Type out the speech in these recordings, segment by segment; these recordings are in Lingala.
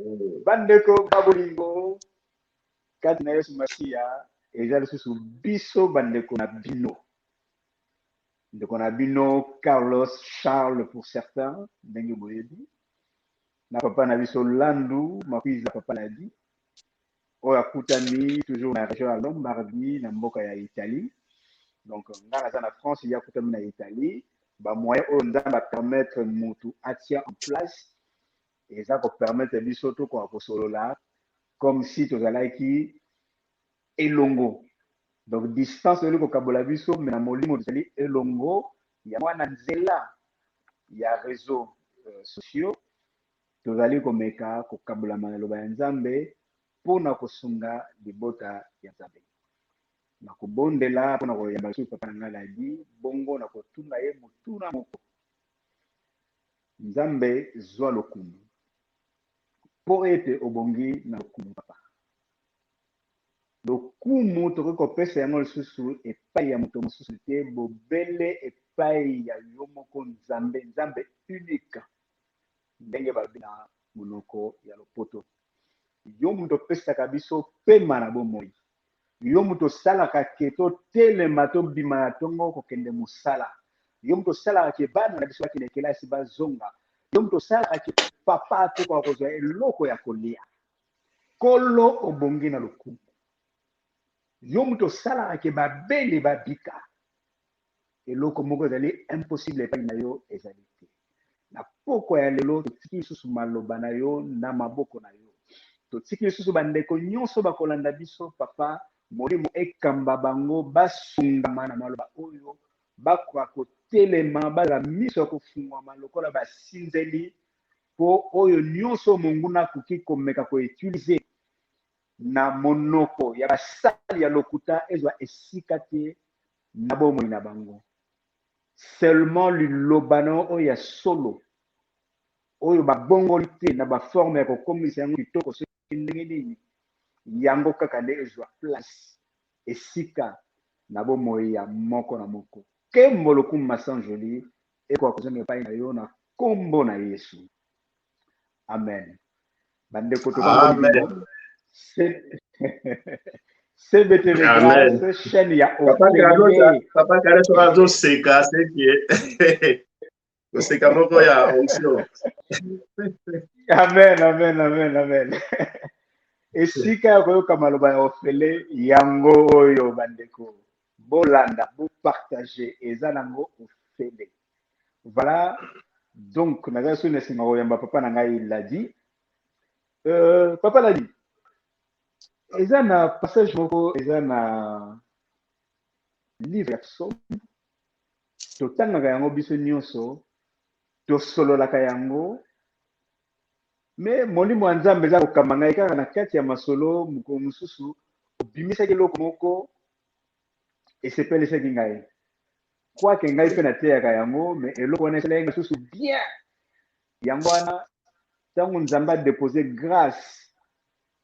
Eh, bandeko ba bolingo kati na yesu masiya eza lisusu biso bandeko na bino ndeko na bino carlos charles pour certain ndenge boyebi na papa na biso landu makuiza papa ladi oyo akutami toujours na region ya Lombardi na mboka ya Italie donc nga naza na France ye akutami na Italie ba moyen oyo Nzambe a permettre mutu atia en place eza ko permettre biso tokoka kosolola comme si tozalaki elongo donc distance ezali kokabola biso me na molimo tozali elongo ya mwana nzela ya réseau euh, sociaux tozali komeka kokabolama na Liloba ya Nzambe mpo na kosunga libota ya Nzambe. Nakobondela mpo na koyamba lisusu papa na ngai Ladi, bongo nakotuna ye motuna moko, Nzambe, zua lokumu, mpo ete obongi na lokumu, papa. Lokumu tokoki kopesa yango lisusu epai ya moto mosusu te, bobele epai ya yo moko, Nzambe, Nzambe unique. ndenge balobi na monoko ya lopoto. Yo moto opesaka biso pema na bomoi, yo moto osalaka ke totelema tobima na tongo kokende mosala, yo moto osalaka ke bana na biso bakende kelasi bazonga, yo moto osalaka ke papa atokoka kozwa eloko ya kolia. Kolo obongi na lokumu, yo moto osalaka ke babeli babika. Eloko moko ezali impossible epai na yo ezali te. Na pokwa ya lelo, totiki lisusu maloba na yo na maboko na yo. Totiki lisusu bandeko nyonso bakolanda biso, Papa, Molimo ekamba bango, basungama na maloba oyo, bakoka kotelema, bazala miso ya kofungwama lokola basinzeli, mpo oyo nyonso monguna akoki komeka ko utiliser na monoko ya basali ya lokuta ezwa esika te na bomoi na bango. Seulement liloba na yo oyo ya solo oyo babongoli te na ba forme ya kokomisa yango kitoko soki ndenge nini, yango kaka nde ezwa place, esika, na bomoi ya moko na moko. Nkembo, lokumu, masanjoli ekoka kozonga epai na yo na nkombo na Yesu. amen bandeko tokamoni cbtv chaîne ya papa kale soki azoseka seke koseka moko ya onction amen amen amen amen esika ya koyoka maloba ya ofele yango oyo bandeko bolanda bopartage eza nango ofele Voilà. Donc, naza soni asinga koyamba papa na ngai Ladi. Euh, papa Ladi, eza na passage moko eza na livre ya psaume totangaka yango biso nyonso tosololaka yango me molimo ya nzambe eza kokamba ngai kaka na kati ya masolo mokolo mosusu obimisaki eloko moko esepelisaki ngai kwake ngai mpe nateyaka yango me eloko wana esalaki ngai susu bien yango wana ntango nzambe adepose grâce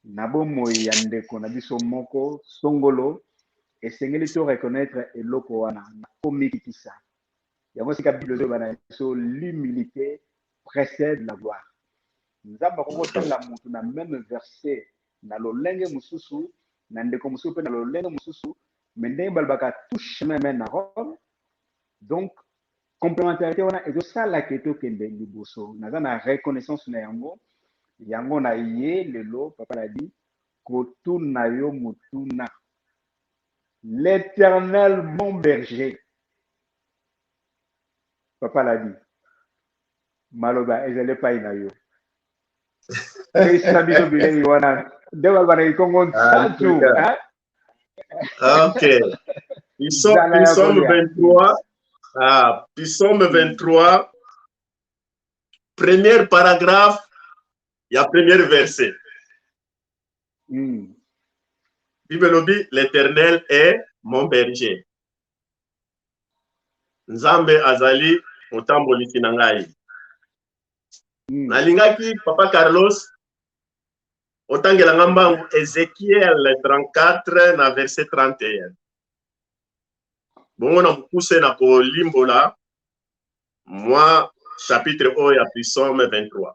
na bomoi ya ndeko na biso moko songolo esengeli to reconnaître eloko wana na komikitisa yango sika bible ezoloba na biso l'humilité précède la gloire nzambe akoki kotalela motu na meme verset na lolenge mosusu, na ndeko mosusu pe na lolenge mosusu, mais ndenge balobaka tout chemin mène à Rome, donc complementarite wana ezo sala que tokende liboso, naza na reconnaissance na yango, yango na ye lelo papa na di kotuna yo motuna, l'Eternel mon berger, papa na di maloba ezali epayi na yo. Pesa biso bilei wana nde bazalaki nkongo nsatu. Ok. Psaume 23, ah, psaume 23, premier paragraphe, il y a premier verset. Mm. Bible lobi, l'Éternel est mon berger. Nzambe azali motambolisi na ngai. hmm. nalingaki papa carlos otangela nga mbangu ezekiel 34 na verset 31 bongo na mokuse na kolimbola mwa chapitre oyo ya prisome 23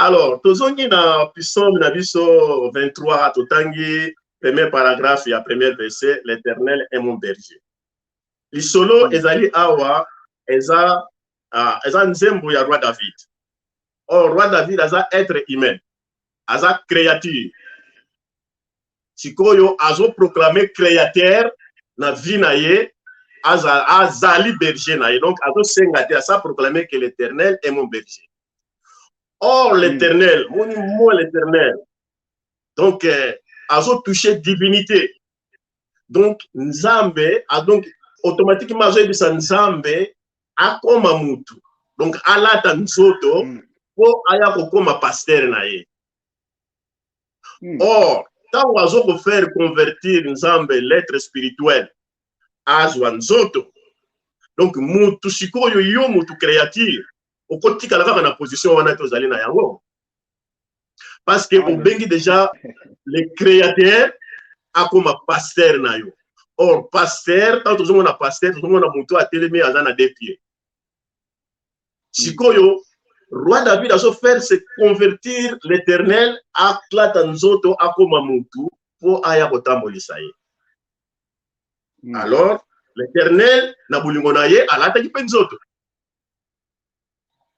Alors, tozongi na psaume na biso 23, totangi premier paragraphe ya premier verset, l'Éternel est mon berger. Lisolo ezali awa eza uh, eza nzembo ya roi David. Or roi David aza être humain, aza créature. Sikoyo azo proclamer créateur na vie na ye azali berger na ye donc azosenga te asa proclamer que l'Éternel est mon berger. Or, hmm. l'éternel, mon moi l'éternel. Donc, euh, azo touché divinité. Donc, Nzambe, a ah, donc, automatiquement, azo ebisa Nzambe, akoma mutu. Donc, alata nzoto, hmm. po aya kokoma pasteur na ye. Hmm. Or, ntango azo kofaire convertir nzambe lettre spirituelle azwa nzoto donc motu sikoyo yo motu créature okotikala kaka na position wana te ozali na yango parce que obengi déjà le créateur akoma pasteur na yo or pasteur ntango tozomona pasteur tozomona moto atelemi aza na de pied sikoyo roi david azofaire se convertir l'éternel aklata nzoto akoma motu mpo aya kotambolisa ye hmm. alors l'éternel na bolingo na ye alataki mpe nzoto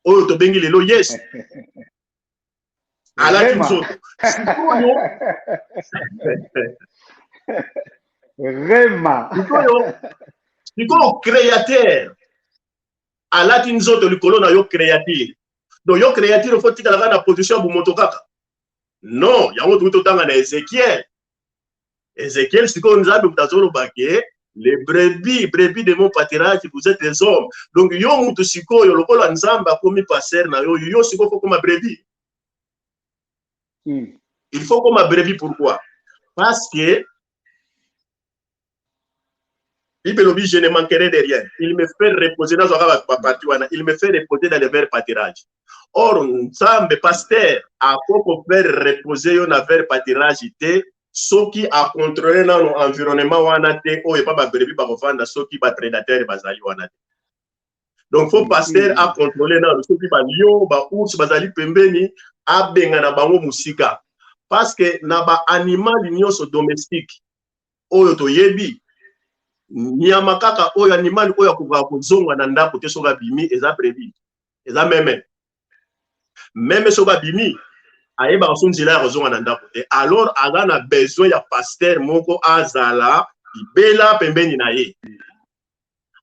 oyo tobengi lelo yes alati nzoto sikoyo rema sikoyo sikoyo créateur alati nzoto likolo na yo créature donc yo créature fo tikalaka na position ya bomoto kaka non yango toki totanga na ezekiel Ezekiel sikoyo Nzambe moto azoloba ke les brebis brebis de mon pâturage vous êtes les hommes donc yo moto sikoyo lokola Nzambe akomi pasteur na yo yo sikoyo faut koma brebis hmm. il faut koma brebis pourquoi parce que Bible elobi je ne manquerai de rien. Il me fait reposer dans ba ba parti wana. Il me fait reposer dans le vert pâturage. Or Nzambe pasteur akoko faire reposer yo na vert pâturage te soki a contrôler nanu environnement wana te oyo epa ba brebis bakofanda soki ba prédateurs bazali wana te. Donc faut pasteur mm. a contrôler nanu soki ba lion ba ours bazali pembeni abenga na bango musika parce que na ba animal nyonso domestique oyo toyebi nyama kaka oyo animali oyo akokaka kozonga na ndako te soki abimi eza brebi eza meme meme soki abimi ayebaka so nzela ya kozonga na ndako te alors aza na besoin ya paster moko azala libela pembeni na ye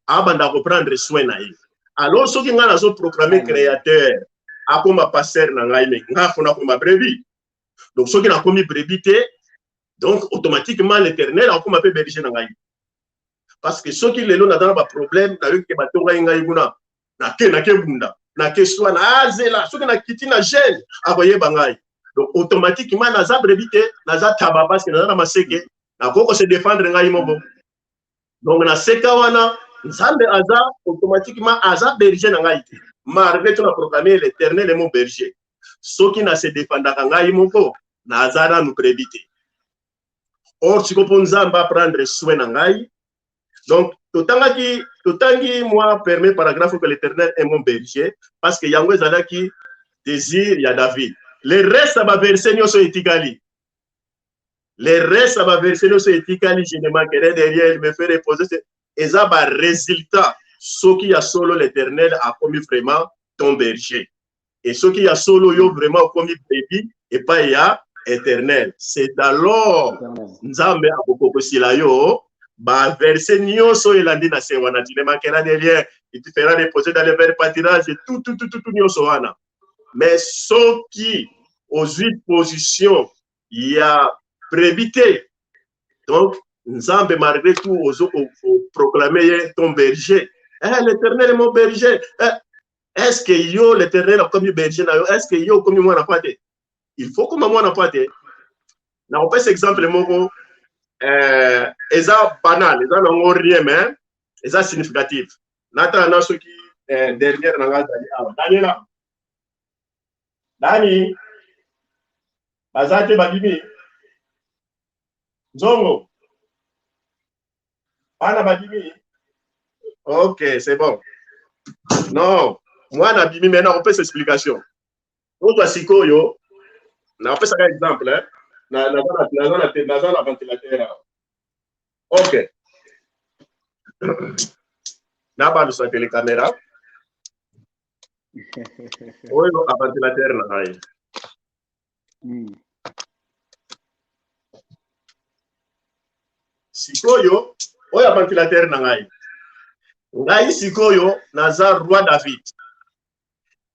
abanda koprendre soin na ye alors soki ngai nazo proclame créateur akoma paster na ngai me ngai afona akoma brebi donc soki nakomi brebi te donc automatiquement l'éternel akokoma mpe berger na ngai parce que soki lelo naza na baproblème nayoki ke batongaki ngai kuna nake nake bunda nake swana azela ah, soki nakiti na gene akoyeba ngai donc automatiquement naza brebi te naza taba parce que naza na maseke nakoki kose défendre ngai moko donc na seka wana nzambe aza automatiquement aza berger na ngai te malgré tout na proclame l'éternel est mon berger soki na se defendaka ngai moko naza nanu prebi te or siko mpo nzambe aprendre soin na ngai donc totangaki totangi mwa permet paragraphe que l'éternel est mon berger parce que yango ezalaki désir ya david le reste ya baverse nyonso etikali le reste ya baverse nyonso etikali je ne manquerai de rien il me fait reposer eza baresultat soki ya solo l'éternel akomi vraiment ton berger e soki ya solo yo vraiment okomi brebi epai ya éternel c'est alors nzambe akokokosila yo baverse nyonso oyo elandi na se wana tu ne manqueras de rien tu feras reposer dans le vert pâturage tout tout tout tout nyonso wana mais soki ozwi position ya prebi te donc nzambe malgré tout ozo proclame ye ton berger eh, l'éternel est mon berger eh, est ce que yo l'éternel akomi berger na yo est ce que yo okomi mwana mpa te il faut koma mwana mpa te nakopesa exemple moko eh, eza banal eza nango rien mais eza significative natala na soki eh, dernière na ngai azali awa daniela dani baza te babimi nzongo bana babimi ok c'est bon non mwana abimi mai nakopesa explication oza sikoyo nakopesaka exemple eh? naza na ventilateur awa ok nabalusa tele camera oyo aventilateur na ngai hmm. sikoyo oyo aventilateur na ngai ngai sikoyo naza roi david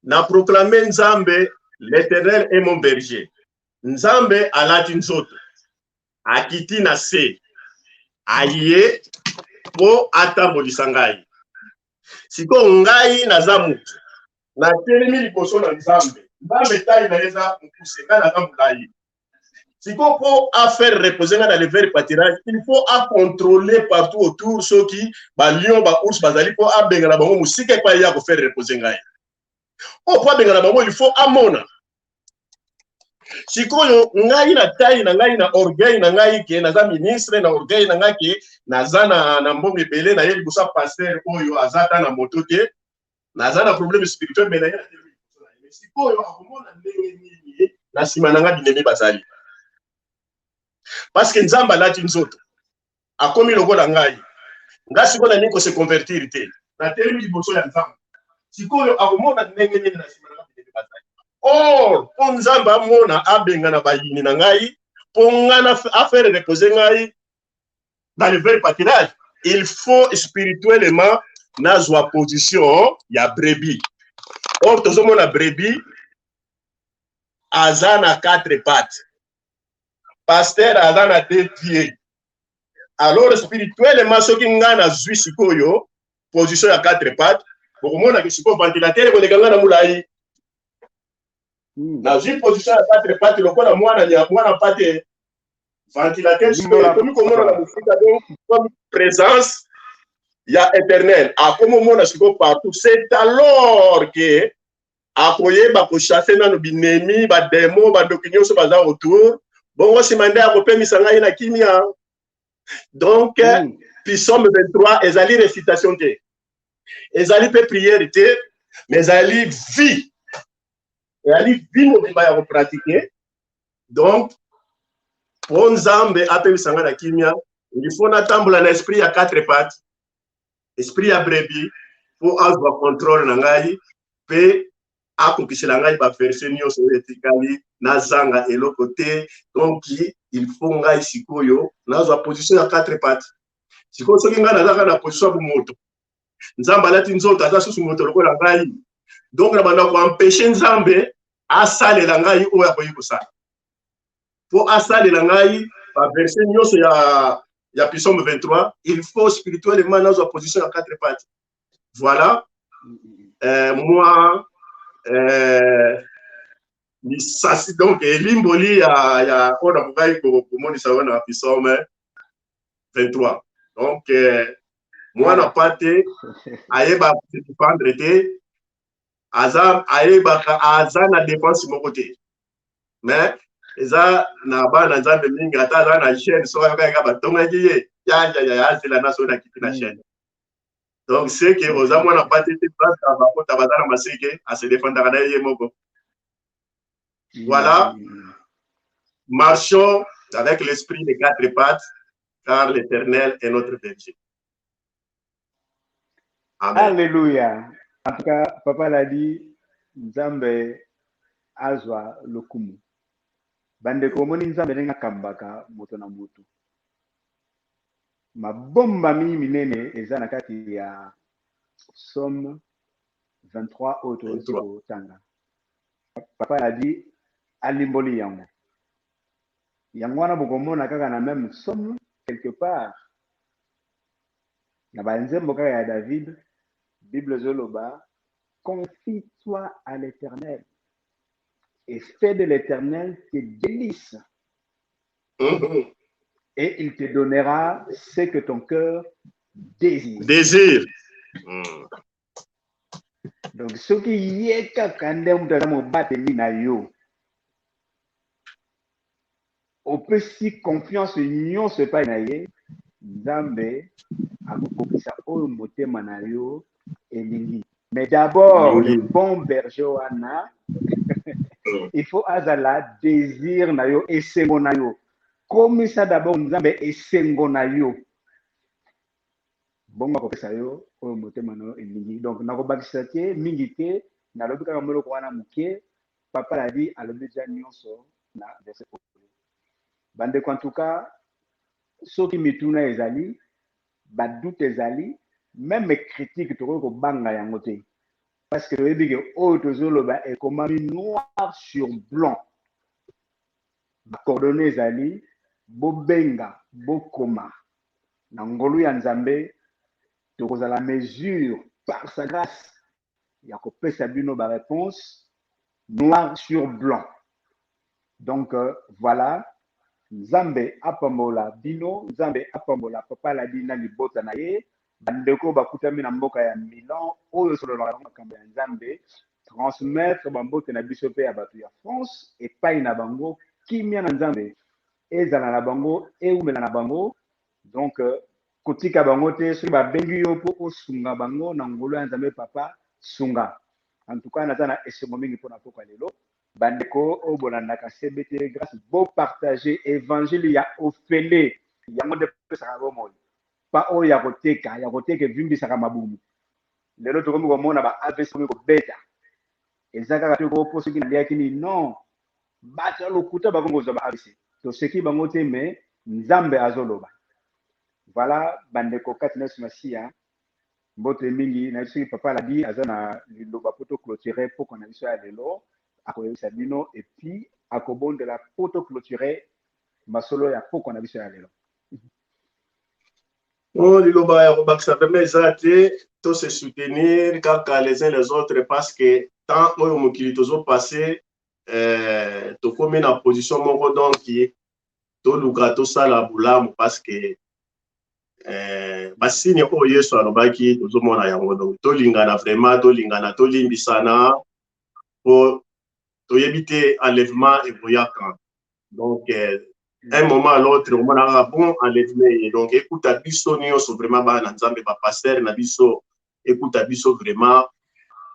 na proclame nzambe l'éternel est mon berger nzambe alati nzoto akiti na se aye mpo atambolisa ngai sikoyo ngai naza motu natelemi liboso na nzambe nzambe tai na ye eza mokuse ngai naza molai sikoyo mpo afaire repose ngai na lever patirage il faut acontrole partout autour soki balion baours bazali mpo abengana bango mosika epai ye akofaire repose ngai oyo mpo abengana bango il faut amona sikoyo ngai na tai na ngai na orgueil na ngai ke naza ministre na orgueil na ngai ke naza na, na mbongo ebele naye libosa paster oyo aza ata na moto te naza na problème spirituel me naye sikoyo akomona ndenge nini na nsima na ngai binemi bazali parce que nzambe alati nzoto akomi lokola ngai nga sikoyo nalingi kose convertir te natelemi liboso ya nzambe sikoyo akomona ndenge nini na nsima na bibele bazali or mpo nzambe amona abengana bayini na ngai mpo ngai afere repose ngai dans le vrai patirage il faut spirituellement nazwa position ya brebi or tozomona brebi aza na quatre pattes pasteur aza na deux pieds alors spirituellement soki ngai nazwi sikoyo position ya quatre pattes bokomonaki sikoyo ventilateur ekoleka ngai na molai hmm. nazwi position ya quatre pattes lokola mwana ya mwana pate ventilateur sikoyo ekomi komona na mosika donc comme présence ya éternel akomomona sikoyo partout c'est alors que akoyeba kochasse nano binemi bademo bandoki nyonso baza autour bongo nsima nde akopemisa ngai na kimia donc mm. pisome 23 ezali recitation te ezali mpe priere te mais ezali vie ezali vie mobimba ya kopratike donc mpo nzambe apemisa ngai na kimia ilifo natambola na esprit ya 4 pate esprit ya brebi mpo azwa controle na ngai mpe akokisela ngai baverse nyonso oyo etikali nazanga eloko te donc il faut ngai sikoyo nazwa position ya quatre parti sikoyo soki ngai nazaka na position ya bomoto nzambe alati nzoto aza susu moto lokola ngai donc na banda koempeshe nzambe asalela ngai oyo akoki kosala mpo asalela ngai baverse nyonso ya, ya pisome 23 il faut spirituellement nazwa position ya quatre parti voilà euh, moi euh, lisasi donc elimboli ya, ya oyo nakokaki komonisa yo na pisome 23 donc euh, mwana pate ayeba se défendre te aza ayebaka aza na dépense moko te mais eza na bana nzambe mingi ata aza na chaîne soki ayokaki kaka batongaki ye yayaya azela na soki nakiti na chaîne donc seke oza mwana pate te baka bakota baza na maseke ase defendaka na ye ye moko voilà marchons avec l'esprit des quatre pattes car l'éternel est notre berger Amen. Alléluia. En tout cas, Papa l'a dit, Nzambe azwa lokumu. Bandeko omoni Nzambe ndenge akambaka moto na moto. Mabombami minene eza na kati ya Somme 23 oyo tokoki kotanga. Papa l'a dit, alimboli yango. Yango wana bokomona kaka na meme somo quelque part na ba nzembo kaka ya David Bible ezoloba confie toi à l'Eternel et fais de l'Eternel tes délices Mhm. et il te donnera ce que ton cœur désire. Désir. Mm. donc soki ye kaka nde moto aza mobateli na yo opesi confiance nyonso epai na ye nzambe akokokisa oyo motema na yo elingi mais d'abord le bon berger wana il faut azala désir na yo esengo na yo komisa d'abord nzambe esengo na yo bongo akopesa yo oyo motema na yo elingi. Donc nakobakisa te mingi te, nalobi kaka mwa eloko wana moke. Papa Ladi alobi deja nyonso na verset oyo. Bandeko, en tout cas, soki mituna ezali, ba doute ezali, meme critique tokoki kobanga yango te parce que toyebi ke oyo tozoloba ekomami noir sur blanc bacoordonne ezali bobenga bokoma na ngolu ya Nzambe, tokozala en mesure, par sa grace, ya kopesa bino ba reponses noir sur blanc. Donc voilà, Nzambe apambola bino, Nzambe apambola Papa Aladi na libota na ye, ba ndeko bakutami na mboka ya Milan oyo esololaka na makambo ya Nzambe, transmettre ba mbote na biso mpe ya bato ya France epayi na bango, kimia na Nzambe ezala na bango ewumela na bango donc kotika bango te soki babengi yo mpo osunga bango na ngolu ya nzambe papa sunga en tout cas naza na esengo mingi mpo na pokwa lelo bandeko oyo bolandaka cbt grace bo partage evangile ya ofele yango nde pesaka bomoi pa oyo ya koteka ya koteka evimbisaka mabumu lelo tokomi komona ba avc omi kobeta eza kaka te koo mpo soki naliaki nini non Batu ya lokuta bakomi kozwa ba avc toseki bango te mais nzambe azo loba voila ba ndeko kati na yesu masiya mbote mingi nayebi soki papa aladi aza na liloba po to cloture pokwa na biso ya lelo akoyebisa bino et puis akobondela po to cloture masolo ya pokwa na biso ya lelo Oh, liloba ya kobakisa pembe eza te to se soutenir kaka les uns les autres parce que temps oyo mokili tozo passe eh, tokomi na position moko donc toluka tosala bolamu parce que eh, basini oyo yesu alobaki tozomona yango donc tolingana vraiment tolingana tolimbisana po toyebi te enlèvement ekoyaka donc euh, un moment à l'autre omonaka bon enlèvement ye donc ekuta biso nyonso vraiment bana na nzambe bapastere na biso ekuta biso vraiment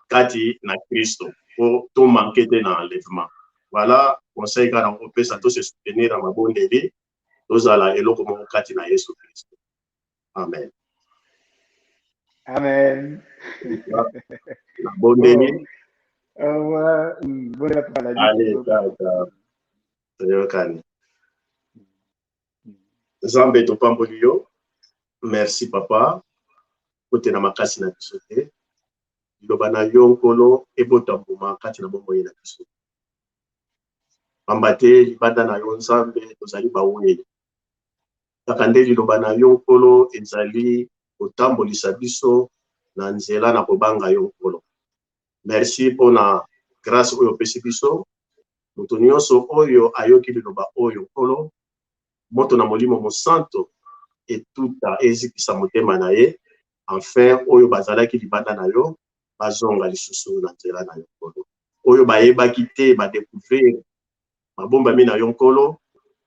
kati na kristo po tomanke te na enlèvement voilà conseil kaka na kopesa tose soutenir na mabondeli tozala eloko moko kati na yesu kristo Amen. Amen. Abondeli. Oh, euh, mm, voilà pour la Allez, d'accord. Toyokani. Nzambe topamboli yo. Merci papa. Kotela makasi na biso te. Liloba na yo nkolo ebota mbuma kati na bomoi na biso. Pamba te libanda na yo Nzambe tozali baweli. Kaka nde Liloba na Yo, Nkolo, ezali kotambolisa biso na nzela na kobanga Yo, Nkolo. Mersi mpo na grase oyo opesi biso. Moto nyonso oyo ayoki Liloba oyo, Nkolo, moto na Molimo Mosanto etuta, ezikisa motema na ye, enfin, oyo bazalaki libanda na Yo bazonga lisusu na nzela na Yo, Nkolo. Oyo bayebaki te, ba decouvrir Mabombami na yo, Nkolo.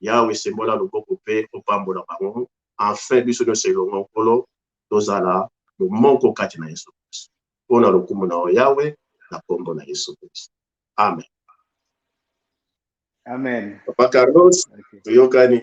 Yawe, sembola loboko mpe opambola bango. Enfin, biso nyonso elongo, Nkolo, tozala bomoko kati na Yesu Kristo. Mpo na lokumu na yo, Yawe, na kombo na Yesu Kristo. Amen. Amen. Papa Carlos, okay. Toyokani.